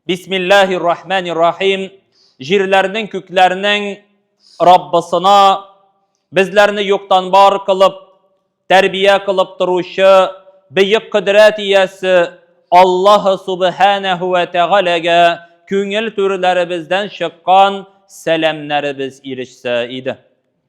Бисмиллахи рахмани рахим. Җирләрнең күкләрнең Раббысына безләрне юктан бар кылып, тәрбия кылып торучы бөек кодрәт иясе Аллаһ субханәһу ва тәгаләгә күңел түрләребездән чыккан сәламнәребез ирешсә иде.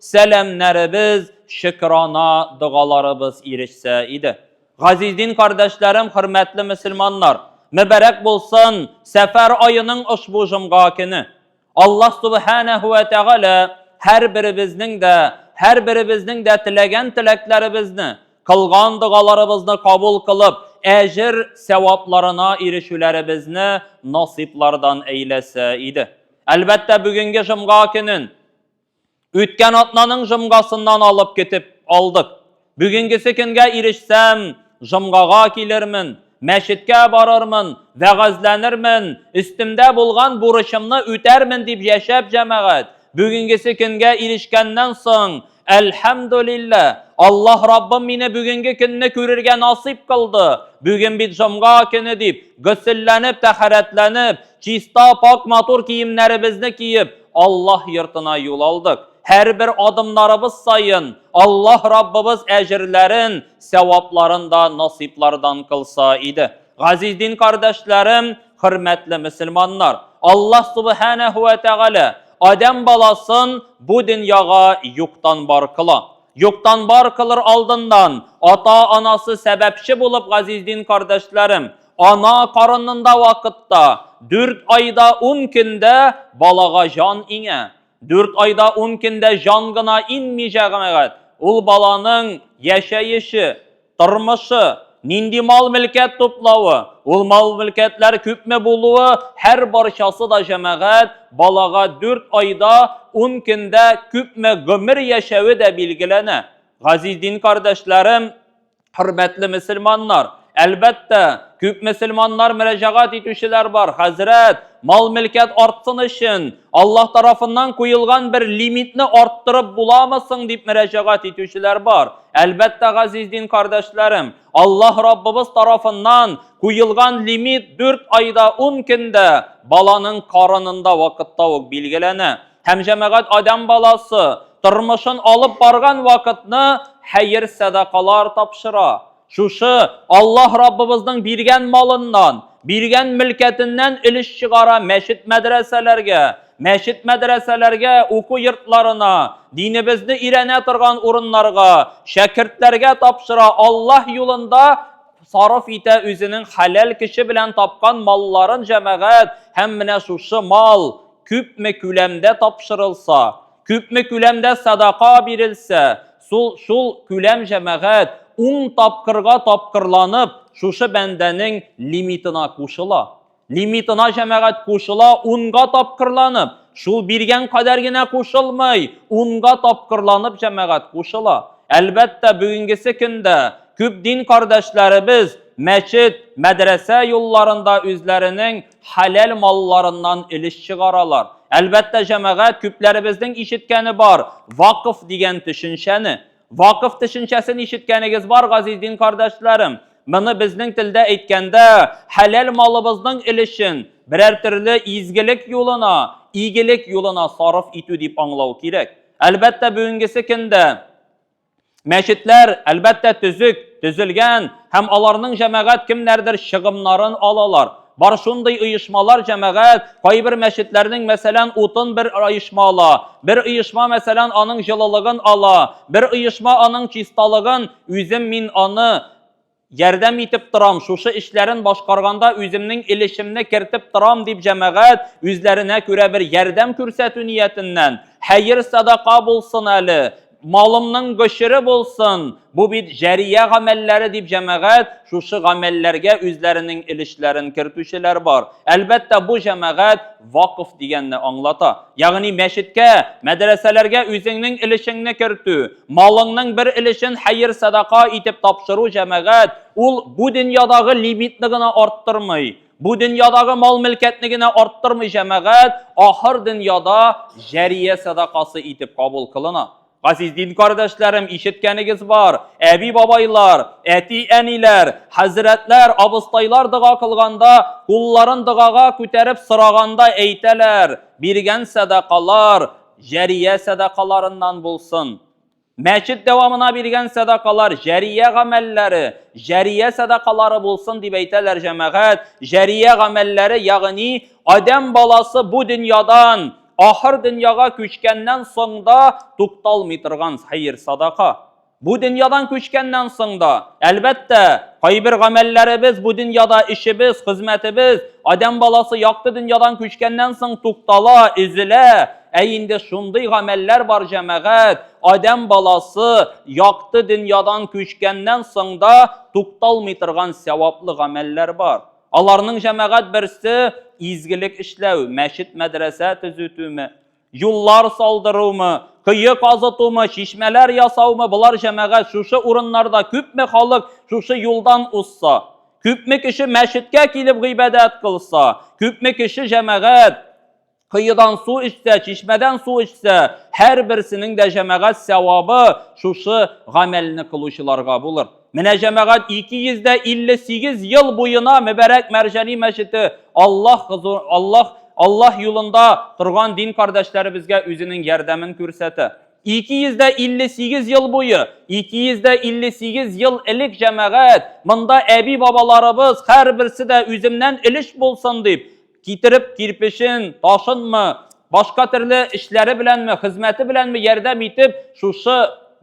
сәламнәребез, шөкерана догаларыбыз ирешсә иде. Газиз дин кардәшләрем, хөрмәтле мөселманнар, мөбарәк булсын Сәфәр аеның ошбу җомга көне. Аллаһ Субханәһу ва Тәгалә һәрберебезнең дә, һәрберебезнең дә теләгән теләкләребезне, кылган догаларыбызны кабул кылып, әҗер, сәвапларына ирешүләребезне насыйплардан әйләсә иде. Әлбәттә, бүгенге җомга көнен Үткән атнаның жомгасыннан алып китеп алдык. Бүгенгесе көнгә ирешсәм, жомгага килермен, мәчеткә барырмын, вәгазьләнермен, өстемдә булган бурычымны үтәрмен дип яшәп, җәмәгать, бүгенгесе көнгә ирешкәннән соң, әлхәмдүлиллә, Аллаһ Раббым мине бүгенге көнне күрергә насыйп кылды, бүген бит жомга көне дип, гөселләнеп, тәһарәтләнеп, чиста, пакь-матур киемнәребезне киеп, Аллаһ йортына юл алдык. Һәрбер адымнарыбыз саен Аллаһ Раббыбыз әҗерләрен, сәвапларын да насыйплардан кылса иде. Газиз дин кардәшләрем, хөрмәтле мөселманнар, Аллаһ Субханәһу вә Тәгалә адәм баласын бу дөньяга юктан бар кыла. Юктан бар кылыр алдыннан, ата-анасы сәбәпче булып, газиз дин кардәшләрем, Ана карынында вакытта 4 айда 10 көндә балага җан иңә. 4 айда 10 көндә җан гына инми җәгамәгать. Ул баланың яшәеше, тормышы, нинди мал-мөлкәт туплавы, ул мал-мөлкәтләр күпме булуы, һәр барчасы да җәмәгать балага 4 айда 10 көндә күпме гомер яшәве дә билгеләнә. Газиз дин кардәшләрем, Хөрмәтле мөселманнар, әлбәттә, күп мөселманнар мөрәҗәгать итүчеләр бар. Хәзрәт, мал-мөлкәт артсын өчен Аллаһ тарафыннан куелган бер лимитны арттырып буламы соң дип мөрәҗәгать итүчеләр бар. Әлбәттә, газиз дин кардәшләрем, Аллаһ Раббыбыз тарафыннан куелган лимит 4 айда 10 көндә баланың карынында вакытта ук билгеләнә. Һәм җәмәгать адам баласы тормышын алып барган вакытны хәер сәдакалар тапшыра. Шушы Аллаһ Раббыбызның биргән малыннан, биргән мөлкәтеннән өлеш чыгара мәчет мәдрәсәләргә, мәчет мәдрәсәләргә, уку йортларына, динебезне өйрәнә торган урыннарга, шәкертләргә тапшыра, Аллаһ юлында сарыф итә үзенең хәләл көче белән тапкан малларын җәмәгать һәм менә шушы мал күпме күләмдә тапшырылса, күпме күләмдә садака бирелсә, шул, шул күләм җәмәгать ун тапкырга тапкырланып шушы бәндәнең лимитына кушыла. Лимитына җәмәгать кушыла унга тапкырланып, шул биргән кадәр генә кушылмый, унга тапкырланып җәмәгать кушыла. Әлбәттә, бүгенгесе көндә күп дин кардәшләребез мәчет, мәдрәсә юлларында үзләренең хәләл малларыннан өлеш чыгаралар. Әлбәттә, җәмәгать, күпләребезнең ишеткәне бар, вакыф дигән төшенчәне. Вакыф төшенчәсен ишеткәнегез бар, газиз дин кардәшләрем. Моны безнең телдә әйткәндә, хәләл малыбызның өлешен берәр төрле изгелек юлына, игелек юлына сарыф итү дип аңлау кирәк. Әлбәттә, бүгенгесе көндә Мәчетләр, әлбәттә, төзек, төзелгән һәм аларның җәмәгать кемнәрдер чыгымнарын алалар. Бар шундый оешмалар, җәмәгать, кайбер мәчетләрнең, мәсәлән, утын бер оешма ала, бер оешма, мәсәлән, аның җылылыгын ала, бер оешма аның чисталыгын, үзем мин аны, Ярдәм итеп торам, шушы эшләрен башкарганда үземнең өлешемне кертеп торам, дип җәмәгать, үзләренә күрә бер ярдәм күрсәтү ниятеннән, Хәер-садака булсын әле, малымның гошере булсын, бу бит җәрия гамәлләре, дип җәмәгать, шушы гамәлләргә үзләренең өлешләрен кертүчеләр бар. Әлбәттә, бу җәмәгать вакыф дигәнне аңлата. Ягъни мәчеткә, мәдрәсәләргә үзеңнең өлешеңне кертү, Малыңның бер өлешен хәер-садака итеп тапшыру, җәмәгать, ул бу дөньядагы лимитны гына арттырмый, бу дөньядагы мал-мөлкәтне генә арттырмый, җәмәгать, ахыр дөньяда җәрия садакасы итеп кабул кылына. Газиз дин кардәшләрем, ишеткәнегез бар, әби-бабайлар, әти-әниләр, хәзрәтләр, абыстайлар дога кылганда, кулларын догага күтәреп сораганда әйтәләр, Биргән садакалар, Җәрия сәдакаларыннан булсын. Мәчет дәвамына биргән сәдакалар җәрия гамәлләре, җәрия сәдакалары булсын дип әйтәләр җәмәгать. Җәрия гамәлләре, ягъни адәм баласы бу дөньядан ахыр дөньяга күчкәннән соң да тукталмый торган хәер-садака. Бу дөньядан күчкәннән соң да, әлбәттә, кайбер гамәлләребез бу дөньяда эшебез, хезмәтебез, адәм баласы якты дөньядан күчкәннән соң туктала, өзелә. Ә инде шундый гамәлләр бар, җәмәгать, адәм баласы якты дөньядан күчкәннән соң да тукталмый торган сәваплы гамәлләр бар. Аларның, җәмәгать, берсе, изгелек эшләү, мәчет-мәдрәсә төзүтү, Юллар салдырумы, кое казытумы, чишмәләр ясаумы, болар җәмәгать шушы урыннарда күпме халык шушы юлдан узса, күпме кеше мәчеткә килеп гыйбадәт кылса, күпме кеше җәмәгать коедан су эчсә, чишмәдән су эчсә, һәрберсенең дә җәмәгать сәвабы шушы гамәлне кылучыларга булыр. Менә җәмәгать 258 ел буена Мөбәрәк Мәрҗани мәчете Аллаһ хозур, Аллаһ, Аллаһ юлында торган дин кардәшләребезгә үзенең ярдәмен күрсәтә. 258 ел буе, 258 ел элек җәмәгать, монда әби-бабаларыбыз һәрберсе дә үземнән өлеш булсын дип, Китереп кирпечен, ташынмы, башка төрле эшләре беләнме, хезмәте беләнме ярдәм итеп, шушы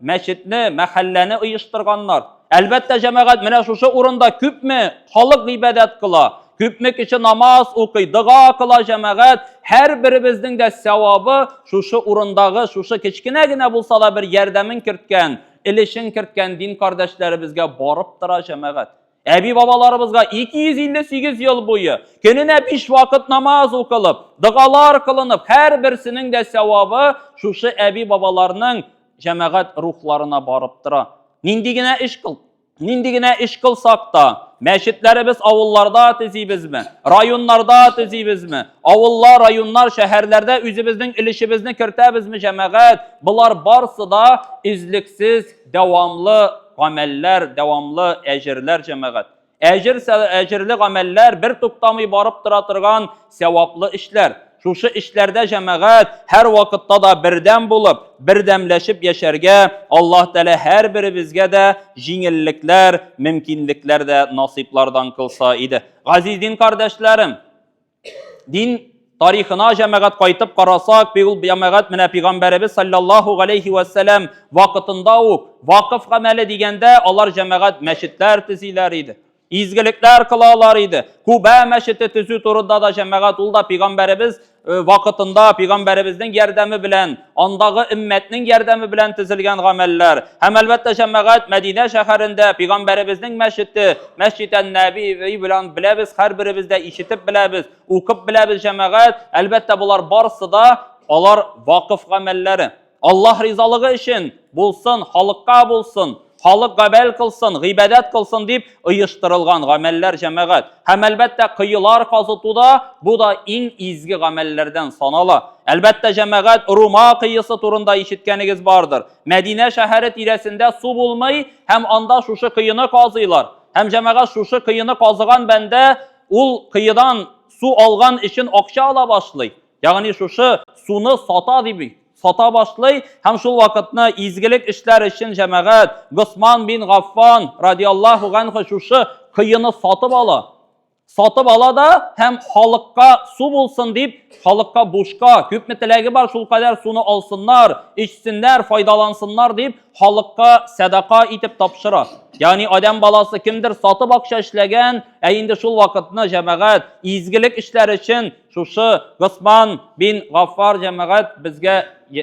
мәчетне, мәхәлләне оештырганнар. Әлбәттә, җәмәгать менә шушы урында күпме халык гыйбадәт кыла, күпме кеше намаз укый, дога кыла җәмәгать, һәрберебезнең дә сәвабы шушы урындагы, шушы кечкенә генә булса да бер ярдәмен керткән, элешен керткән дин кардәшләребезгә барып тора җәмәгать. Әби-бабаларыбызга 258 ел буе көненә 5 вакыт намаз укылып, дыгалар кылынып, һәрберсенең дә сәвабы шушы әби-бабаларның җәмәгать рухларына барып тора. Нинди генә эш кыл, нинди генә эш кылсак та, мәчетләребез авылларда төзибезме, районнарда төзибезме, авыллар, районнар, шәһәрләрдә үзебезнең өлешебезне кертәбезме, җәмәгать, болар барсы да излексез Дәвамлы гамәлләр, дәвамлы әҗерләр җәмәгать. Әҗер, әҗерле гамәлләр бер туктамый барып тора торган сәваплы эшләр. Шушы эшләрдә җәмәгать һәр вакытта да бердәм булып, бердәмләшеп яшәргә Аллаһ Тәгалә һәрберебезгә дә җиңеллекләр, мөмкинлекләр дә насыйплардан кылса иде. Газиз дин кардәшләрем, Дин тарихына җәмәгать кайтып карасак, бик ул җәмәгать менә пигамбәребез саллаллаху алейхи вәссәлам вакытында ук вакыф гамәле дигәндә алар җәмәгать мәчетләр төзиләр иде. Изгелекләр кылалар иде. Куба мәчете төзү турында да җәмәгать ул да пигамбәребез э, вакытында пигамбәребезнең ярдәме белән андагы өммәтнең ярдәме белән төзелгән гамәлләр һәм әлбәттә җәмәгать Мәдинә шәһәрендә пигамбәребезнең мәчете Мәсҗид ән-Нәби белән беләбез, һәрберебез дә ишетеп беләбез, укып беләбез җәмәгать. Әлбәттә, болар барысы да алар вакыф гамәлләре. Аллаһ ризалыгы өчен булсын, халыкка булсын. халык гамәл кылсын, гыйбадәт кылсын дип оештырылган гамәлләр җәмәгать. Һәм әлбәттә кыюлар казыту да бу да иң изге гамәлләрдән санала. Әлбәттә җәмәгать Рума кыйысы турында ишеткәнегез бардыр. Мәдинә шәһәре тирәсендә су булмый һәм анда шушы кыюны казыйлар. Һәм җәмәгать шушы кыюны казыган бәндә ул кыюдан су алган өчен акча ала башлый. Ягъни шушы суны сата дип сата башлый һәм шул вакытны изгелек эшләр өчен җәмәгать Госман бин Гаффан радиаллаху ганху шушы коены сатып ала. Сатып ала да һәм халыкка су булсын дип, халыкка бушка, күпме теләге бар шул кадәр суны алсыннар, эчсеннәр, файдалансыннар дип, халыкка сәдака итеп тапшыра. Ягъни адәм баласы кемдер сатып акча эшләгән, ә инде шул вакытны җәмәгать изгелек эшләр өчен Шушы Госман бин Гаффар җәмәгать безгә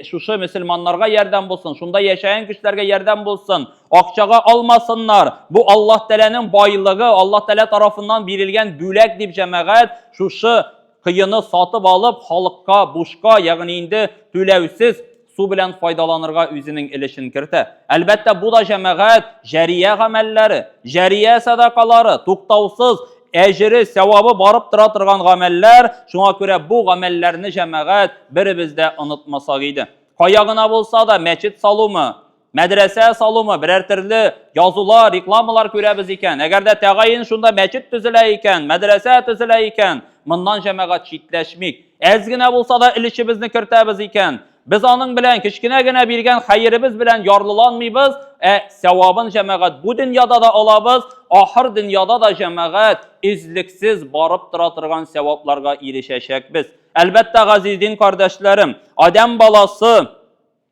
шушы мөселманнарга ярдәм булсын, шунда яшәгән кешеләргә ярдәм булсын. Акчага алмасыннар. Бу Аллаһ Тәләнең байлыгы, Аллаһ Тәлә тарафыннан бирелгән бүләк дип җәмәгать шушы кыены сатып алып, халыкка бушка, ягъни инде түләүсез су белән файдаланырга үзенең өлешен кертә. Әлбәттә, бу да җәмәгать җәрия гамәлләре, җәрия садакалары, туктаусыз әҗере, сәвабы барып тора торган гамәлләр. Шуңа күрә бу гамәлләрне җәмәгать беребез дә онытмасак иде. Кая гына булса да мәчет салумы, Мәдрәсә салумы, берәр төрле язулар, рекламалар күрәбез икән. Әгәр дә тәгаен шунда мәчет төзелә икән, мәдрәсә төзелә икән, моннан җәмәгать читләшмик. Әз генә булса да өлешебезне кертәбез икән. Без аның белән кечкенә генә биргән хәеребез белән ярлыланмыйбыз, ә сәвабын җәмәгать бу дөньяда да алабыз, ахыр дөньяда да җәмәгать өзлексез барып тора торган сәвапларга ирешәчәкбез. Әлбәттә, газиз дин кардәшләрем, Адәм баласы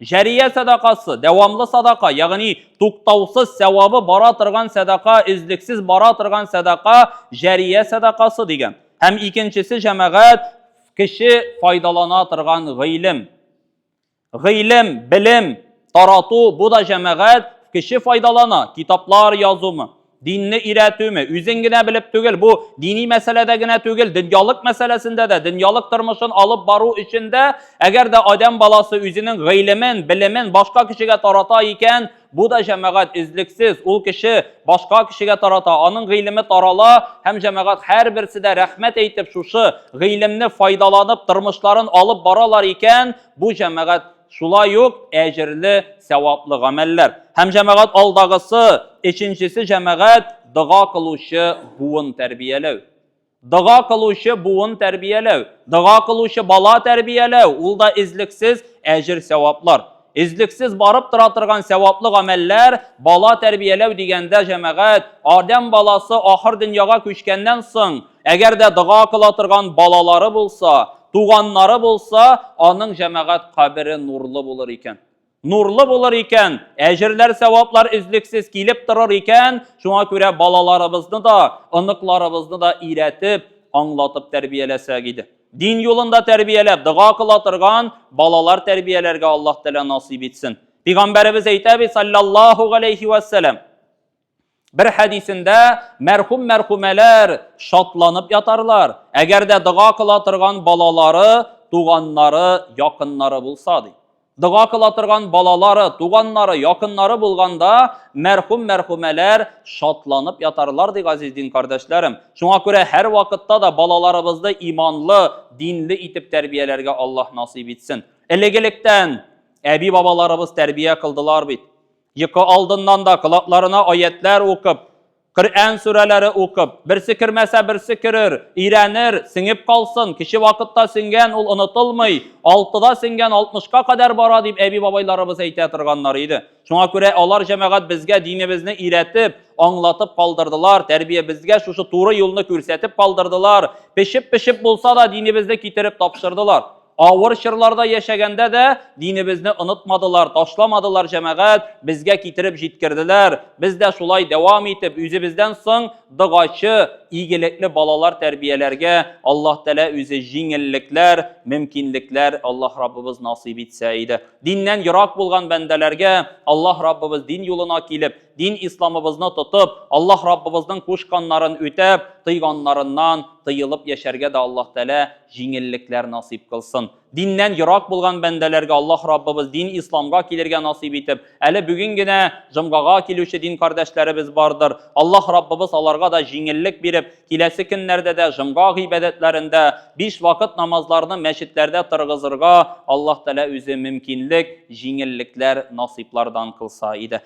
Җәрия сәдакасы, дәвамлы садака, ягъни туктаусыз сәвабы бара торган сәдака, өзлексез бара торган сәдака, җәрия сәдакасы дигән. Һәм икенчесе җәмәгать кеше файдалана торган гыйлем. Гыйлем, белем тарату, бу да җәмәгать кеше файдалана, китаплар язумы, Динне өйрәтүме? Үзең генә белеп түгел, бу дини мәсьәләдә генә түгел, дөньялык мәсьәләсендә дә, дөньялык тормышын алып бару өчен дә, әгәр дә адәм баласы үзенең гыйлемен, белемен башка кешегә тарата икән, бу да җәмәгать излексез, ул кеше башка кешегә тарата, аның гыйлеме тарала һәм җәмәгать һәрберсе дә рәхмәт әйтеп шушы гыйлемне файдаланып тормышларын алып баралар икән, бу җәмәгать Шулай ук әҗерле, сәваплы гамәлләр. Һәм җәмәгать алдагысы, өченчесе җәмәгать дога кылучы буын тәрбияләү. Дога кылучы буын тәрбияләү, дога кылучы бала тәрбияләү, ул да излексез әҗер сәваплар. Излексез барып тора торган сәваплы гамәлләр, бала тәрбияләү дигәндә җәмәгать, Адәм баласы ахыр дөньяга күчкәннән соң, Әгәр дә дога кыла торган балалары булса, туганнары булса, аның җәмәгать кабере нурлы булыр икән. Нурлы булыр икән, әҗерләр, сәваплар өзлексез килеп торыр икән, шуңа күрә балаларыбызны да, оныкларыбызны да өйрәтеп, аңлатып тәрбияләсәк иде. Дин юлында тәрбияләп, дога кыла торган балалар тәрбияләргә Аллаһ Тәгалә насыйп итсен. Пигамбәребез әйтә бит, саллаллаһу галәйһи вәссәлам, Бер хәдисендә мәрхүм мәрхүмәләр шатланып ятарлар, әгәр дә дога кыла торган балалары, туганнары, якыннары булса ди. Дога кыла торган балалары, туганнары, якыннары булганда мәрхүм мәрхүмәләр шатланып ятарлар ди газиз дин кардәшләрем. Шуңа күрә һәр вакытта да балаларыбызны иманлы, динле итеп тәрбияләргә Аллаһ насыйп итсен. Элек-электән әби-бабаларыбыз тәрбия кылдылар бит. Йокы алдыннан да колакларына аятлар укып, Коръән сүрәләре укып, берсе кермәсә, берсе керер, өйрәнер, сеңеп калсын, кече вакытта сеңгән ул онытылмый, алтыда сеңгән алтмышка кадәр бара дип әби-бабайларыбыз әйтә торганнар иде. Шуңа күрә алар җәмәгать безгә динебезне өйрәтеп, аңлатып калдырдылар, тәрбиябезгә шушы туры юлны күрсәтеп калдырдылар, пешеп-пешеп булса да динебезне китереп тапшырдылар. Авыр чырларда яшәгәндә дә динебезне онытмадылар, ташламадылар җәмәгать, безгә китереп җиткерделәр. Без дә шулай дәвам итеп, үзебездән соң догачы, игелекле балалар тәрбияләргә Аллаһ Тәгалә үзе җиңеллекләр, мөмкинлекләр Аллаһ Раббыбыз насыйп итсә иде. Диннән ерак булган бәндәләргә Аллаһ Раббыбыз дин юлына килеп, дин исламыбызны тотып, Аллаһ Раббыбызның кушканнарын үтәп, тыйганнарыннан тыелып яшәргә дә Аллаһ Тәгалә җиңеллекләр насыйп кылсын. Диннән ерак булган бәндәләргә Аллаһ Раббыбыз дин исламга килергә насыйп итеп, әле бүген генә җомгага килүче дин кардәшләребез бардыр. Аллаһ Раббыбыз аларга да җиңеллек биреп, киләсе көннәрдә дә җомга гыйбадәтләрендә биш вакыт намазларны мәчетләрдә тыргызырга Аллаһ Тәгалә үзе мөмкинлек, җиңеллекләр насыйплардан кылса иде.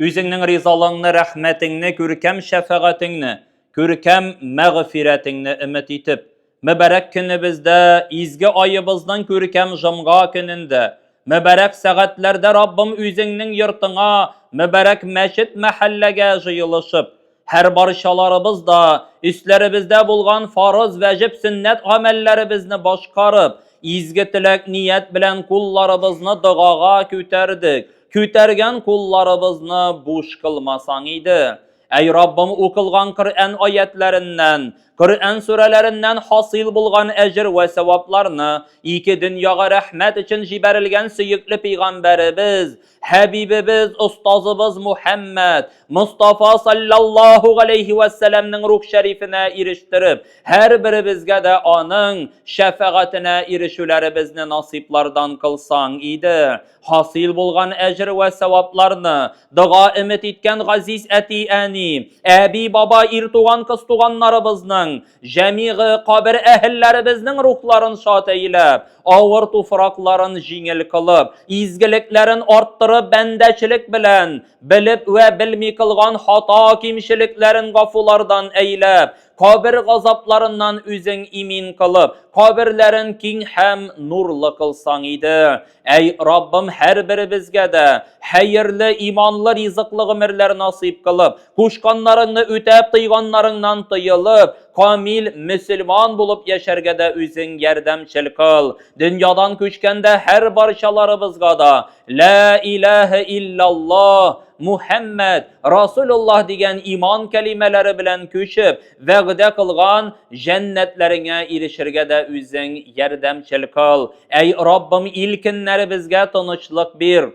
Үзеңнең ризалыгыңны, рәхмәтеңне, күркәм шәфәгатеңне, күркәм мәгъфирәтеңне өмет итеп, мөбарәк көнебездә, изге аебызның күркәм җомга көнендә, мөбарәк сәгатьләрдә Раббым үзеңнең йортыңа, мөбарәк мәчет-мәхәлләгә җыелышып, Һәр барчаларыбыз да өсләребездә булган фарыз, вәҗип, сөннәт гамәлләребезне башкарып, изге теләк, ният белән кулларыбызны догага күтәрдек. Күтәргән кулларыбызны буш кылмасаң иде. Әй Раббым, укылган Коръән аятьләреннән, Коръән сүрәләреннән хасил булган әҗер вә сәвапларны, ике дөньяга рәхмәт өчен җибәрелгән сөекле пәйгамбәребез, Хәбибебез, остазыбыз Мухәммәд Мустафа саллаллаһу галәйһи ва сәламнең рух шәрифенә ирештереп, һәрберебезгә дә аның шәфәгатенә ирешүләребезне насыйплардан кылсаң иде. Хасил булган әҗер вә сәвапларны, дога өмет иткән газиз әти-әни, әби-баба, ир туган-кыз туганнарыбызның Җәмигы кабер әһелләребезнең рухларын шат әйләп, авыр туфракларын җиңел кылып, изгелекләрен арттырып, бәндәчелек белән, белеп вә белми кылган хата кимчелекләрен гафулардан әйләп, кабер газапларыннан үзең имин кылып, каберләрен киң һәм нурлы кылсаң иде. Әй Раббым һәрберебезгә дә хәерле, иманлы, ризыклы гомерләр насыйп кылып, кушканнарыңны үтәп, тыйганнарыңнан тыелып, камил мөселман булып яшәргә дә үзең ярдәмчел кыл. Дөньядан күчкәндә һәр барчаларыбызга да Лә иләһә илляллаһ Мухәммәд Расулуллаһ дигән иман кәлимәләре белән күчеп, Вәгъдә кылган җәннәтләреңә ирешергә дә үзең ярдәмчел кыл. Әй Раббым, илкеннәребезгә тынычлык бир.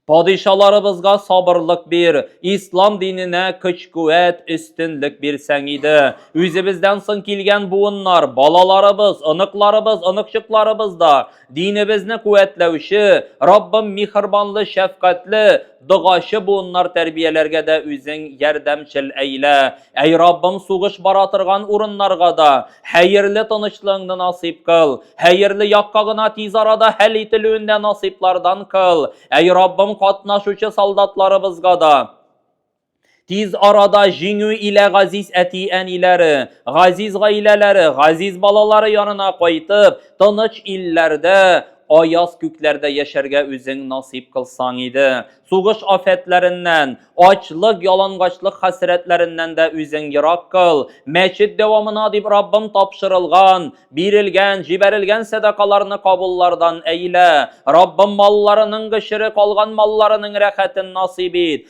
Падишаларыбызга сабырлык бир, ислам диненә көч-куәт, өстенлек бирсәң иде. Үзебездән соң килгән буыннар, балаларыбыз, оныкларыбыз, оныкчыкларыбыз да Динебезне куәтләүче, Раббым михырбанлы, шәфкатьле, догачы буыннар тәрбияләргә дә үзең ярдәмчел әйлә. Әй Раббым, сугыш бара торган урыннарга да хәерле тынычлыгыңны насыйп кыл, хәерле якка гына тиз арада хәл ителүен дә насыйплардан кыл. Әй Раббым, катнашучы солдатларыбызга да, Тиз арада җиңү илә газиз әти-әниләре, газиз гаиләләре, газиз балалары янына кайтып, тыныч илләрдә, аяз күкләрдә яшәргә үзең насыйп кылсаң иде. Сугыш афәтләреннән, ачлык, ялангачлык хәсрәтләреннән дә үзең ерак кыл. Мәчет дәвамына дип Раббым тапшырылган, бирелгән, җибәрелгән сәдакаларны кабуллардан әйлә. Раббым, малларының гшере калган малларының рәхәтен насыйп ит.